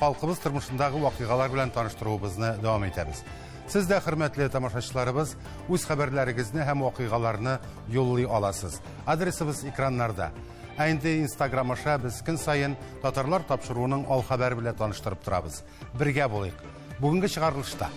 халкыбыз тормышындагы вакыйгалар белән таныштыруыбызны дәвам итәбез. Сез дә, хөрмәтле тамашачыларыбыз, үз хәбәрләрегезне һәм вакыйгаларны юллый аласыз. Адресыбыз экраннарда. Ә инде Instagram аша без көн саен татарлар тапшыруының ал хәбәре белән таныштырып торабыз. Бергә булыйк. Бүгенге чыгарылышта.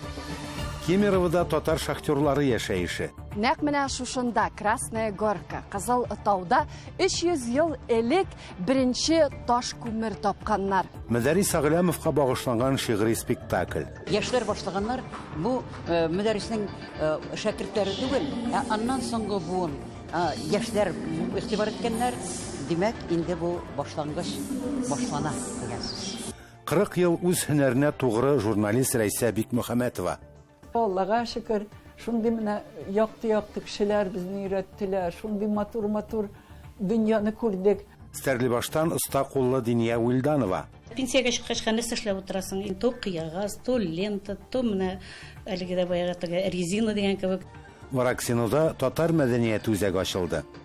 Кемеровода татар шахтерлары яшәеше. Нәкъ менә шушында, Красная Горка, Кызыл Тауда 300 ел элек Беренче таш күмер тапканнар. Мөдәрис Агълямовка багышланган шигъри спектакль. Яшьләр башлаганнар, бу э, мөдәриснең э, шәкертләре түгел, ә аннан соңгы буын э, яшьләр игътибар иткәннәр. Димәк, инде бу башлангыч башлана дигән сүз. 40 ел үз һөнәренә тугры журналист Рәйсә Бикмөхәмәтова. Аллага шөкер, шундый менә якты-якты кешеләр безне өйрәттеләр, шундый матур-матур дөньяны күрдек. Стәрлебаштан оста куллы Диния Уилданова. Пенсиягә чыккач, хәл нәрсә эшләп утырасың? То кыягаз, то лента, то менә әлеге дә баягы телгә резина дигән кебек. Вараксинода татар мәдәнияте үзәге ачылды.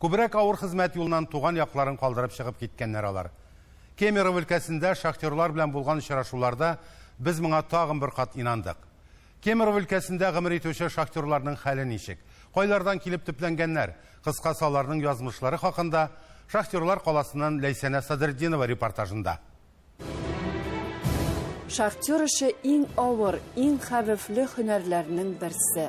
Күбрәк авыр хезмәт юлыннан туган якларын калдырып чыгып киткәннәр алар. Кемерово өлкәсендә шахтерлар белән булган очрашуларда без моңа тагын бер кат инандык. Кемерово өлкәсендә гомер итүче шахтерларның хәле ничек, кайлардан килеп төпләнгәннәр, кыскасы аларның язмышлары хакында Шахтерлар каласыннан Ләйсәнә Садретдинова репортажында. Шахтер эше иң авыр, иң хәвефле һөнәрләрнең берсе.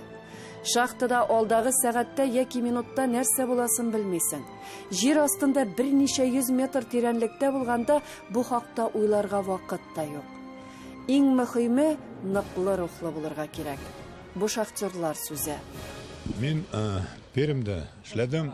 Шахтада алдагы сәгатьтә яки минутта нәрсә буласын белмисең. Җир астында берничә йөз метр тирәнлектә булганда бу хакта уйларга вакыт та юк. Иң мөхиме ныклы рухлы булырга кирәк. Бу шахтерлар сүзе. Мин Пермьдә эшләдем.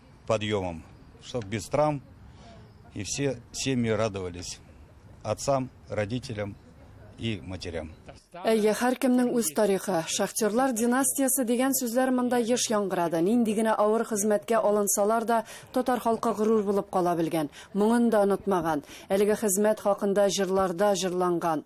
подъемом, чтобы без травм, и все семьи радовались отцам, родителям и матерям. Әйе, һәркемнең үз тарихы. Шахтерлар династиясе дигән сүзләр монда еш яңгырады. Нинди генә авыр хезмәткә алынсалар да, татар халкы горур булып кала белгән. Моңын да онытмаган. Әлеге хезмәт хакында җырларда җырланган.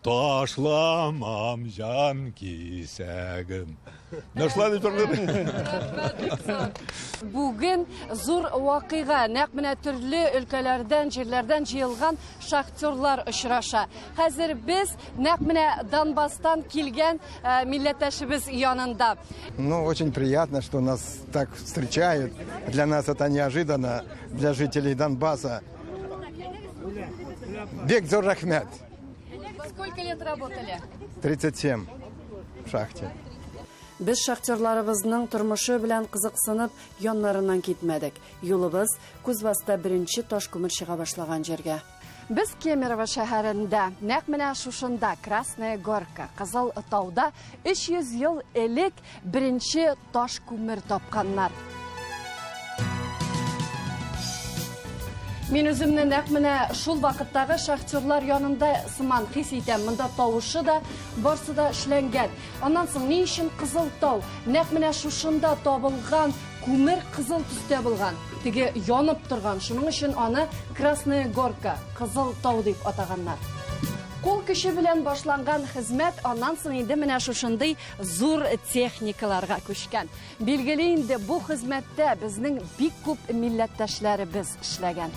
Ташламам җан кисәгем. Нәрсә дип торган? Бүген зур вакыйга, нәкъ менә төрле өлкәләрдән, җирләрдән җыелган шахтерлар очраша. Хәзер без нәкъ менә Донбасстан килгән э, милләттәшебез янында. Ну, очень приятно, что нас так встречают. Для нас это неожиданно, для жителей Донбасса. Бек зур рәхмәт. Сколько лет работали? 37 в шахте. Без шахтерларыбызның тормышы белән кызыксынып, яннарыннан китмәдек. Юлыбыз Кузбасста беренче таш күмер чыга башлаган җиргә. Без Кемерово шәһәрендә, нәкъ менә шушында, Красная Горка, Кызыл тауда 300 ел элек Беренче таш күмер тапканнар. Мин үземне нәкъ менә шул вакыттагы шахтерлар янында сыман хис итәм. Монда тавышы да, барсы да эшләнгән. Аннан соң ни өчен кызыл тау? Нәкъ менә шушында табылган күмер кызыл төстә булган. Теге янып торган. Шуның өчен аны Красная горка, кызыл тау дип атаганнар. Кул көче белән башланган хезмәт аннан соң инде менә шушындый зур техникаларга күчкән. Билгеле инде, бу хезмәттә безнең бик күп милләттәшләребез эшләгән.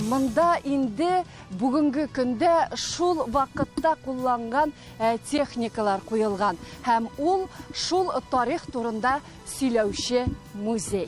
Монда инде бүгенге көндә шул вакытта кулланган э, техникалар куелган һәм ул шул тарих турында сөйләүче музей.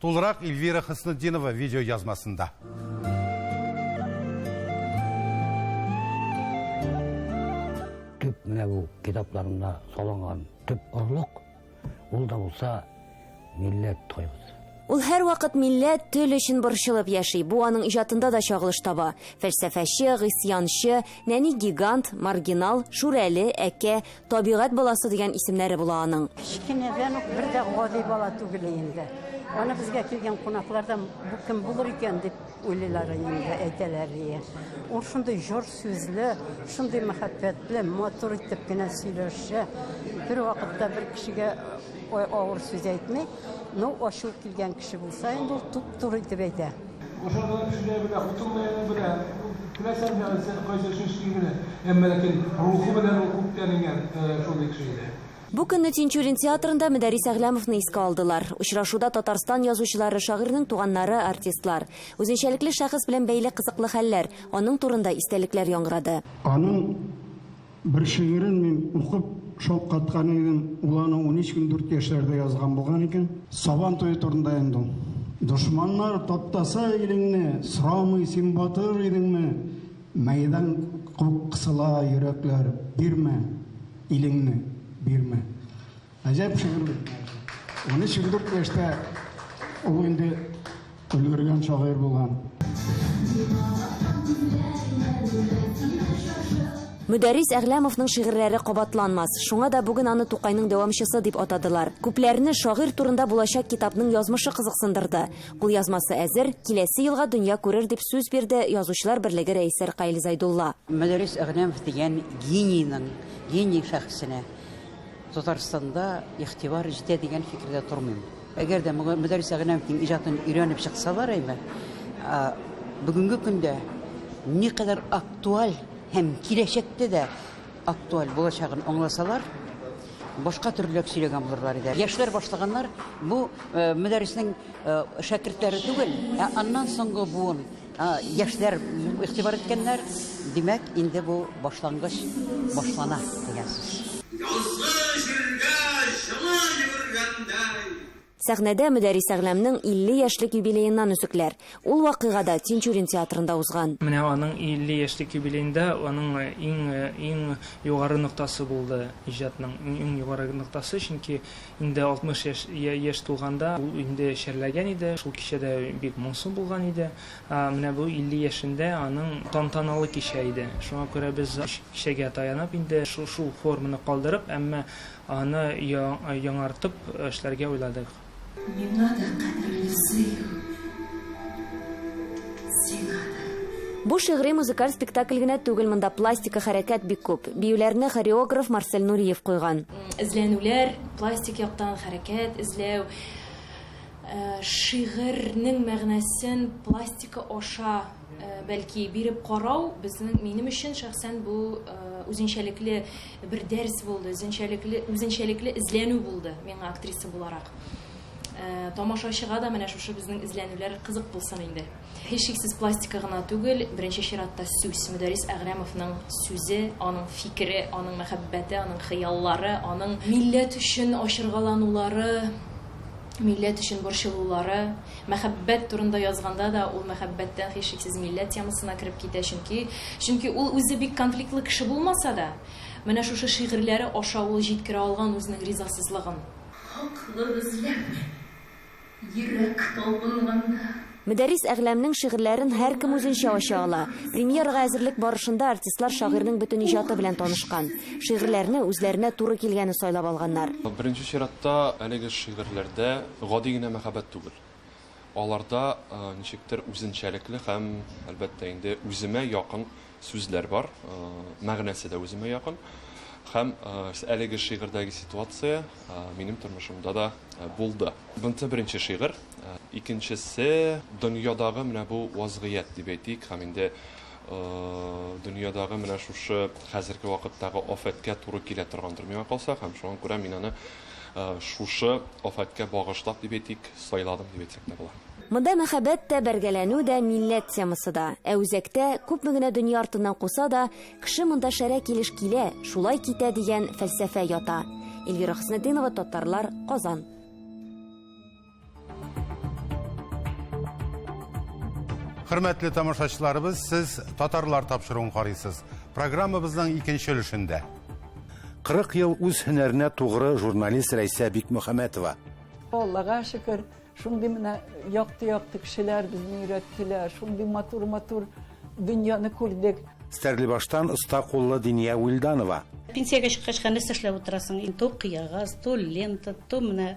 Тулырак Ильвира Хөснетдинова видеоязмасында. Төп менә бу китапларында салынган төп орлык ул да булса милләт тойгысы. Ул һәрвакыт милләт, тел өчен борчылып яши. Бу аның иҗатында да чагылыш таба. Фәлсәфәче, гыйсъянчы, нәни гигант, маргинал, шүрәле, әкә, Табигать баласы дигән исемнәре була аның. Кечкенәдән үк бер дә гади бала түгел инде. Аны безгә килгән кунаклар да бу кем булыр икән дип уйлыйлар инде, әйтәләр ие. Ул шундый җор сүзле, шундый мәхәббәтле, матур итеп кенә сөйләшә. Бер вакытта бер кешегә авыр сүз әйтми, ну ачу килгән кеше булса инде ул туп-туры итеп әйтә. Бу көнне Тинчурин театрында Мөдәррис Әгъләмовны искә алдылар. Очрашуда Татарстан язучылары, шагыйрьнең туганнары, артистлар. Үзенчәлекле шәхес белән бәйле кызыклы хәлләр, аның турында истәлекләр яңгырады. Аның Бер шигырен мин укып шаккаткан идем, ул аны унөч унтүрт яшьләрдә язган булган икән. Сабан туе турында инде ул. Дошманнар таптаса илеңне, сорамый син батыр идеңме? Мәйдан кысыла йөрәкләр, бирмә, илеңне, бирмә. Әҗәп шигырь бит. 13-14 яшьтә ул инде өлгергән шагыйрь булган. Мөдәррис Әгъләмовның шигырьләре кабатланмас. Шуңа да бүген аны Тукайның дәвамчысы дип атадылар. Күпләрне шагыйрь турында булачак китапның язмышы кызыксындырды. Кулъязмасы әзер, киләсе елга дөнья күрер дип сүз бирде Язучылар берлеге рәисе Ркаил Зайдулла. Мөдәррис Әгъләмов дигән генийның, гений шәхесенә Татарстанда игътибар җитә дигән фикердә тормыйм. Әгәр дә Мөдәррис Әгънәмовның иҗатын өйрәнеп чыксалар әйбәт. Ә бүгенге көндә никадәр актуаль һәм киләчәктә дә актуаль булачагын аңласалар, башка төрлерәк сөйләгән булырлар иде. Яшьләр башлаганнар, бу э, Мөдәрриснең э, шәкертләре түгел, ә аннан соңгы буын Яшьләр игътибар иткәннәр, димәк, инде бу башлангыч башлана дигән сүз. Язгы җиргә җылы йөгергәндәй. Сәхнәдә Мөдәрис Әгъләмнең 50 яшьлек юбилееннан өзекләр. Ул вакыйга да Тинчурин театрында узган. Менә аның 50 яшьлек юбилеенда аның иң-иң югары ноктасы булды, иҗатның иң югары ноктасы, чөнки Инде 60 яшь яшь тулганда ул инде чәрләгән иде, шул кичә дә бик моңсу булган иде. Менә бу 50 яшендә аның тантаналы кичә иде. Шуңа күрә без кичәгә таянып инде шул форманы калдырып, әмма аны яңартып эшләргә уйладык. Миңа да кадерле сөю, сиңа да. Бу шигъри-музыкаль спектакль генә түгел, монда пластика хәрәкәт бик күп. Биюләрне хореограф Марсель Нуриев куйган. Эзләнүләр, пластик яктан хәрәкәт эзләү, э, шигырьнең мәгънәсен пластика аша э, бәлки биреп карау безнең минем өчен шәхсән бу э, үзенчәлекле бер дәрс булды, үзенчәлекле үзенчәлекле эзләнү булды миңа актриса буларак. Тамашачыга да менә шушы безнең эзләнүләр кызык булсын инде. Һичшиксез пластика гына түгел, беренче чиратта сүз, Мөдәррис Әгърәмовның сүзе, аның фикере, аның мәхәббәте, аның хыяллары, аның милләт өчен ачыргаланулары, милләт өчен борчылулары. Мәхәббәт турында язганда да ул мәхәббәттән һичшиксез милләт темасына кереп китә, чөнки чөнки ул үзе бик конфликтлы кеше булмаса да, менә шушы шигырьләре аша ул җиткерә алган үзенең ризасызлыгын. Хаклык эзләп, Йөрәк талпынганда. Мөдәррис Әгъләмнең шигырьләрен һәркем үзенчә ача ала. Премьерага әзерлек барышында артистлар шагыйрьнең бөтен иҗаты белән танышкан. Шигырьләрне үзләренә туры килгәне сайлап алганнар. Беренче чиратта, әлеге шигырьләрдә гади генә мәхәббәт түгел. Аларда ничектер үзенчәлекле һәм, әлбәттә инде, үземә якын Сүзләр бар, мәгънәсе дә үземә якын. Һәм әлеге шигырьдәге ситуация минем тормышымда да булды. Бунсы беренче шигырь, икенчесе дөньядагы менә бу вазгыять дип әйтик, һәм инде дөньядагы менә шушы хәзерге вакыттагы афәткә туры килә торгандыр миңа калса, һәм шуңа күрә мин аны Шушы афәткә багышлап дип әйтик, сайладым дип әйтсәк тә була. Монда мәхәббәт тә, бәргәләнү дә, милләт темасы да. Ә үзәктә, күпме генә дөнья артыннан куса да, кеше монда шәрә килеш килә, шулай китә дигән фәлсәфә ята. Эльвира Хөснетдинова, Татарлар, Казан. Хөрмәтле тамашачыларыбыз, сез татарлар тапшыруын карыйсыз. Программабызның икенче өлешендә. 40 ел үз һөнәренә тугры журналист Рәйсә Бикмөхәмәтова. Аллага шөкер, шундый менә якты-якты кешеләр безне өйрәттеләр, шундый матур-матур дөньяны күрдек. Стәрлебаштан оста куллы Диния Уилданова. Пенсиягә чыккач, хәнәс эшләп утырасың. То кыягаз, то лента, то менә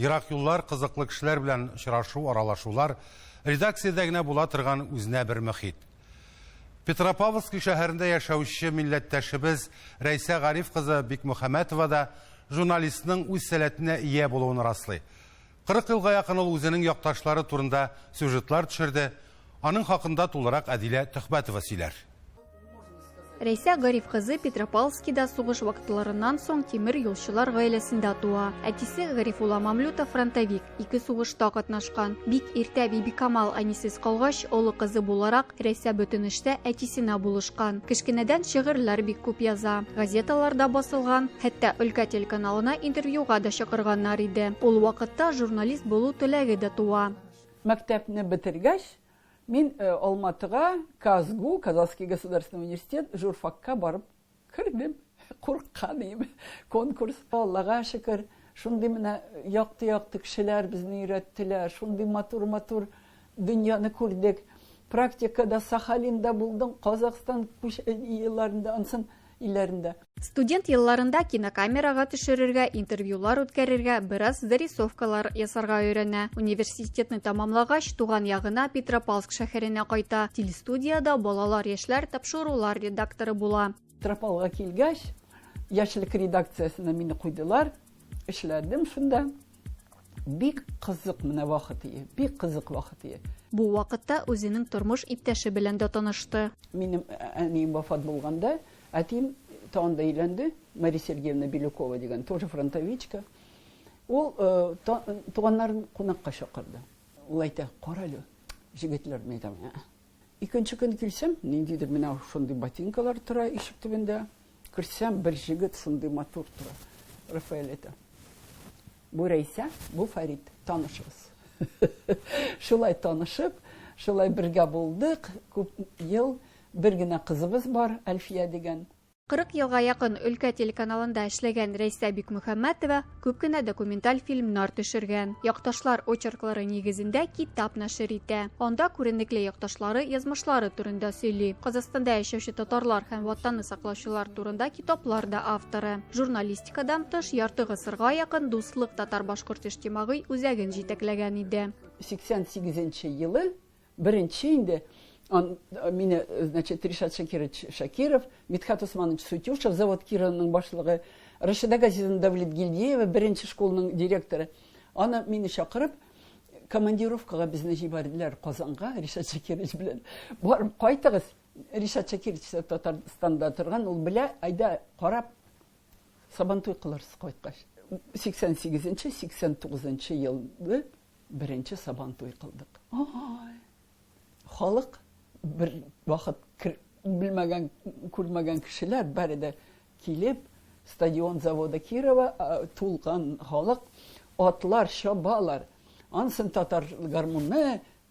Ерак юллар, кызыклы кешеләр белән очрашу, аралашулар, редакциядә генә була торган үзенә бер мөхит. Петропавловск шәһәрендә яшәүче милләттәшебез Рәйсә Гариф кызы Бикмөхәмәтова да журналистның үз сәләтенә ия булуын раслый. 40 елга якын ул үзенең якташлары турында сюжетлар төшерде, аның хакында тулырак Әдилә Төхбәтова сөйләр. Рәйсә Гариф кызы Петропавлскида сугыш вакытларыннан соң тимер юлчылар гаиләсендә туа. Әтисе Гарифулла Мамлюта фронтовик, ике сугышта катнашкан. Бик иртә Бибикамал әнисез калгач, олы кызы буларак, Рәйсә бөтен эштә әтисенә булышкан. Кечкенәдән шигырьләр бик күп яза. Газеталарда басылган, хәтта өлкә телеканалына интервьюга да чакырганнар иде. Ул вакытта журналист булу теләге дә туа. Мәктәпне бетергәч, Мин Алматыга КАЗГУ, Казанский государственный университет, журфакка барып кердем. Курыкка дим. Конкурс Аллага шөкер, шундый менә якты-якты кешеләр безне өйрәттеләр, шундый матур-матур дөньяны күрдек. Практикада Сахалинда булдым, Казахстан елларында ансын илләрендә. Студент елларында кинокамерага төшерергә, интервьюлар үткәрергә, бераз зарисовкалар ясарга өйрәнә. Университетны тәмамлагач, туган ягына Петропавлск шәһәренә кайта. Телестудиядә балалар-яшьләр тапшырулар редакторы була. Петропавлга килгәч, Яшьлек редакциясенә мине куйдылар. Эшләдем шунда. Бик кызык менә вакыт ие, бик кызык вакыт ие. Бу вакытта үзенең тормыш иптәше белән дә танышты. Минем әнием вафат булганда, әтием тагын да өйләнде, Мария Сергеевна Белюкова дигән, тоже фронтовичка. Ул туганнарын кунакка чакырды. Ул әйтә, карале, җегетләр, мин әйтәм, Икенче көн килсәм, ниндидер менә шундый ботинкалар тора ишек төбендә. Керсәм, бер җегет шундый матур тора. Рафаэль әйтә. Бу Рәйсә, бу Фәрит, танышыгыз. Шулай танышып, шулай бергә булдык, күп ел бер генә кызыбыз бар, Әлфия дигән. 40 елга якын өлкә телеканалында эшләгән Рәйсә Бикмөхәммәтова күп кенә документаль фильмнар төшергән. Якташлар очерклары нигезендә китап нәшер итә. Анда күренекле якташлары язмышлары турында сөйли. Казахстанда яшәүче татарлар һәм Ватанны саклаучылар турында китаплар да авторы. Журналистикадан тыш ярты гасырга якын Дуслык татар-башкорт иҗтимагый үзәген җитәкләгән иде. 88 нче елы Беренче инде он, мине, значит, Ришат Шакирович Шакиров, Митхат Усманович Сутюшев, завод Кированның башлыгы, Рашида Газизовна Давлет Гильдеева, беренче школның директоры. Аны мине чакырып, командировкага безне җибәрделәр Казанга, Ришат Шакирович белән. Барып кайтыгыз. Ришат Шакирович Татарстанда торган, ул белә, айда карап Сабантуй кылырсыз кайткач. 88-89 елы беренче сабантуй кылдык. Ай! Халык бер вакыт белмәгән, күрмәгән кешеләр бары да килеп, стадион завода Кирова тулган халык, атлар чабалар. Ансын татар гармунны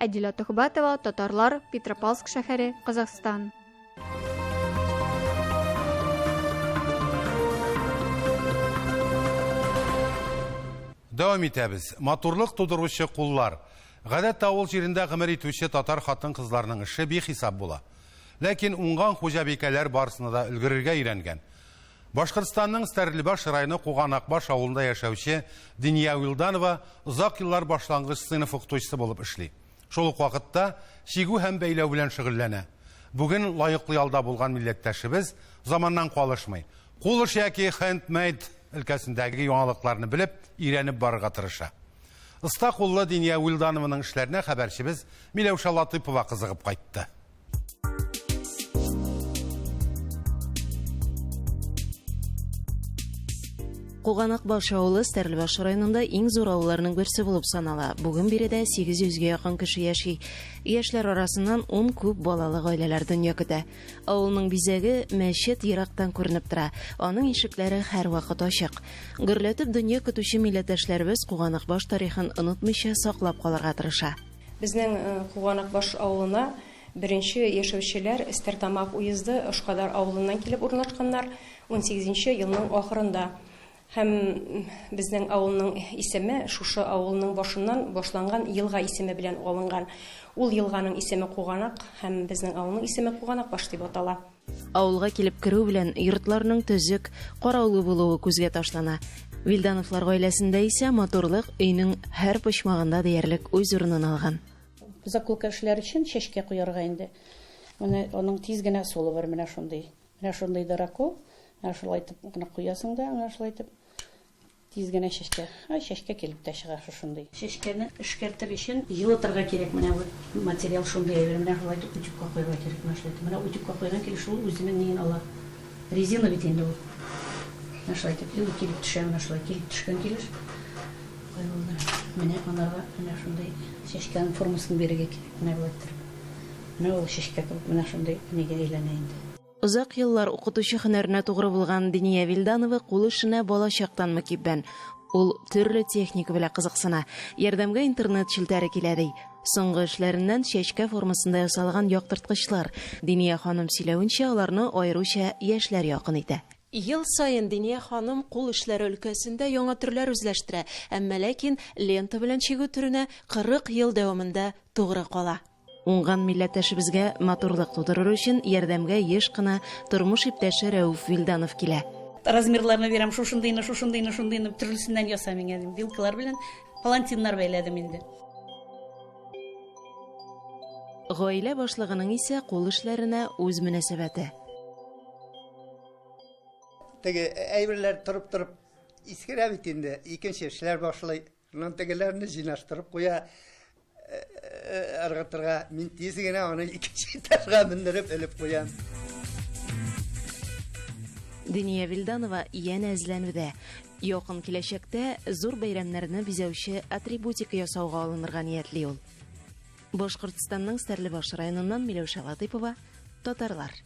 Әдилә Төхбәтова, татарлар, Петропавловск шәһәре, Казахстан. Дәвам итәбез. Матурлык тудыручы куллар. Гадәттә авыл җирендә гомер итүче татар хатын-кызларның эше бихисап була. Ләкин уңган хуҗабикәләр барысына да өлгерергә өйрәнгән. Башкортстанның Стәрлебаш районы Куганакбаш авылында яшәүче Диния Вилданова озак еллар башлангыч сыйныф укытучысы булып эшли. Шул ук вакытта чигү һәм бәйләү белән шөгыльләнә. Бүген лаеклы ялда булган милләттәшебез заманнан калышмый, кул эше яки хенд-мейд өлкәсендәге яңалыкларны белеп, өйрәнеп барырга тырыша. Оста куллы Диния Вилданованың эшләренә хәбәрчебез Миләүшә Латыйпова кызыгып кайтты. Куганак баш авылы Стәрлебаш районында иң зур авылларның берсе булып санала. Бүген биредә 800 гә якын кеше яши. Яшьләр арасыннан 10 күп балалы гаиләләр дөнья көтә. Авылның бизәге мәчет ерактан күренеп тора. Аның ишекләре һәрвакыт ачык. Гөрләтеп дөнья көтүче милләттәшләребез Куганак баш тарихын онытмыйча саклап калырга тырыша. Безнең Куганакбаш авылына беренче яшәүчеләр Стәртамак уезды Ошкадар авылыннан килеп урнашканнар унсигезенче елның ахырында һәм безнең авылның исеме шушы авылның башыннан башланган елга исеме белән алынган. Ул елганың исеме Куганак һәм безнең авылның исеме Куганакбаш дип атала. Авылга килеп керү белән йортларның төзек, караулы булуы күзгә ташлана. Вильдановлар гаиләсендә исә матурлык өйнең һәр почмагында диярлек үз урынын алган. Заколка эшләр өчен чәчкә куярга инде. Менә аның тиз генә ысулы бар, менә шундый. Менә шундый дыракол, менә шулай итеп кына куясың да, менә шулай итеп. Тиз генә чәчкә. Ай, чәчкә килеп тә чыга шушындый. Чәчкәне эшкәртер өчен йылытырга кирәк. Менә бу материал шундый әйбер. Менә шулай итеп утюгка куярга кирәк. Менә шулай итеп. Менә утюгка куйган килеш ул үзенең ниен ала. Резина бит инде ул. Менә шулай итеп. И ул килеп төшә менә шулай. Килеп төшкән килеш куярга. Менә анарга менә шундый чәчкәнең формасын бирергә кирәк. Менә болай иттереп. Менә ул чәчкә кебек менә шундый нигә әйләнә инде. Озак еллар укытучы һөнәренә тугры булган Диния Вилданова кул эшенә балачактан мөкиббән. Ул төрле техника белә кызыксына. Ярдәмгә интернет челтәре килә, ди. Соңгы эшләреннән чәчкә формасында ясалган яктырткычлар. Диния ханым сөйләвенчә, аларны аеруча яшьләр якын итә. Ел саен Диния ханым кул эшләре өлкәсендә яңа төрләр үзләштерә, әмма ләкин лента белән чигү төренә 40 ел дәвамында тугры кала. Уңган милләттәшебезгә матурлык тудырыр өчен ярдәмгә еш кына тормыш иптәше Рәүф Вилданов килә. Размерларны бирәм, шушындыйны, шушындыйны, шундыйны, төрлесеннән яса миңа, дим. Вилкалар белән палантиннар бәйләдем инде. Гаилә башлыгының исә кул эшләренә үз мөнәсәбәте. Теге әйберләр торып-торып искерә бит инде, икенче эшләр башлый. Аннан тегеләрне җыйнаштырып куя, ыргытырга. Мин тиз генә аны икенче этажга мендереп элеп куям. Диния Вилданова янә эзләнүдә. Якын киләчәктә зур бәйрәмнәрне бизәүче атрибутика ясауга алынырга ниятли ул. Башкортстанның Стәрлебаш районыннан Миләүшә Латыйпова, Татарлар.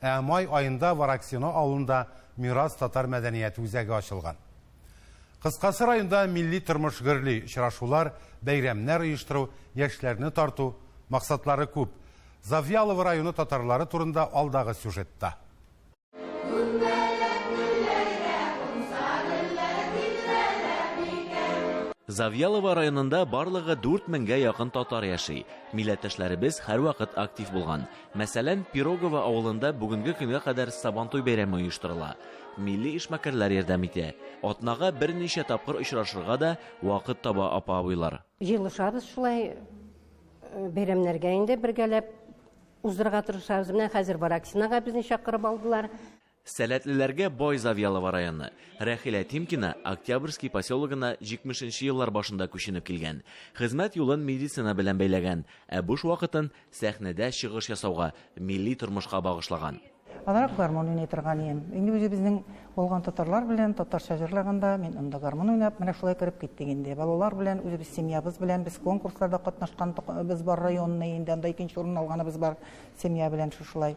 Ә май аенда Вараксино авылында Мирас татар мәдәнияте үзәге ачылган. Кыскасы, районда милли тормыш гөрли, очрашулар, бәйрәмнәр оештыру, яшьләрне тарту, максатлары күп. Завьялово районы татарлары турында алдагы сюжетта. Завьялово районында барлыгы дүрт меңгә якын татар яши. Милләттәшләребез һәрвакыт актив булган. Мәсәлән, Пирогово авылында бүгенге көнгә кадәр Сабантуй бәйрәме оештырыла. Милли эшмәкәрләр ярдәм итә. Атнага берничә тапкыр очрашырга да вакыт таба апа-абыйлар. Җыелышабыз шулай, бәйрәмнәргә инде бергәләп уздырырга тырышабыз. Менә хәзер Вараксинага безне чакырып алдылар. Сәләтлеләргә бай Завьялово районы. Рәхилә Тимкина Октябрьский поселогына 70 нче еллар башында күченеп килгән. Хезмәт юлын медицина белән бәйләгән, ә буш вакытын сәхнәдә чыгыш ясауга, милли тормышка багышлаган. Азрак гармун уйный торган идем. Инде үзебезнең булган татарлар белән татарча җырлаганда, мин анда гармун уйнап, менә шулай кереп киттек инде. Балалар белән, үзебез семьябыз белән без конкурсларда катнашканбыз бар, районный, инде анда икенче урынны алганыбыз бар семья белән шушылай.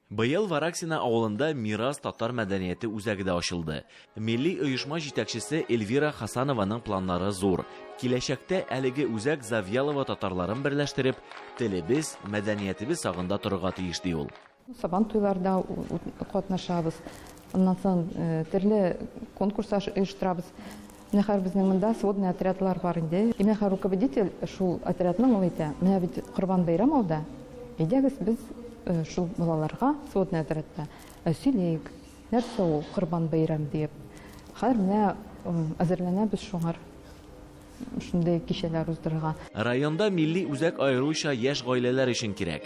Быел Вараксино авылында Мирас татар мәдәнияте үзәге дә ачылды. Милли оешма җитәкчесе Эльвира Хасанованың планнары зур. Киләчәктә әлеге үзәк Завьялово татарларын берләштереп, телебез, мәдәниятебез сагында торырга тиеш, ди ул. Сабан туйларда катнашабыз. Аннан соң төрле конкурслар оештырабыз. Зинһар, безнең монда сводный отрядлар бар инде. Зинһар, руководитель шул отрядның, ул әйтә, менә бит Корбан бәйрәм алда, әйдәгез без шул балаларга сводный отрядта сөйләйек, нәрсә ул Корбан бәйрәм диеп. Хәзер менә әзерләнәбез шуңар шундый кичәләр уздырырга. Районда милли үзәк аеруча яшь гаиләләр өчен кирәк.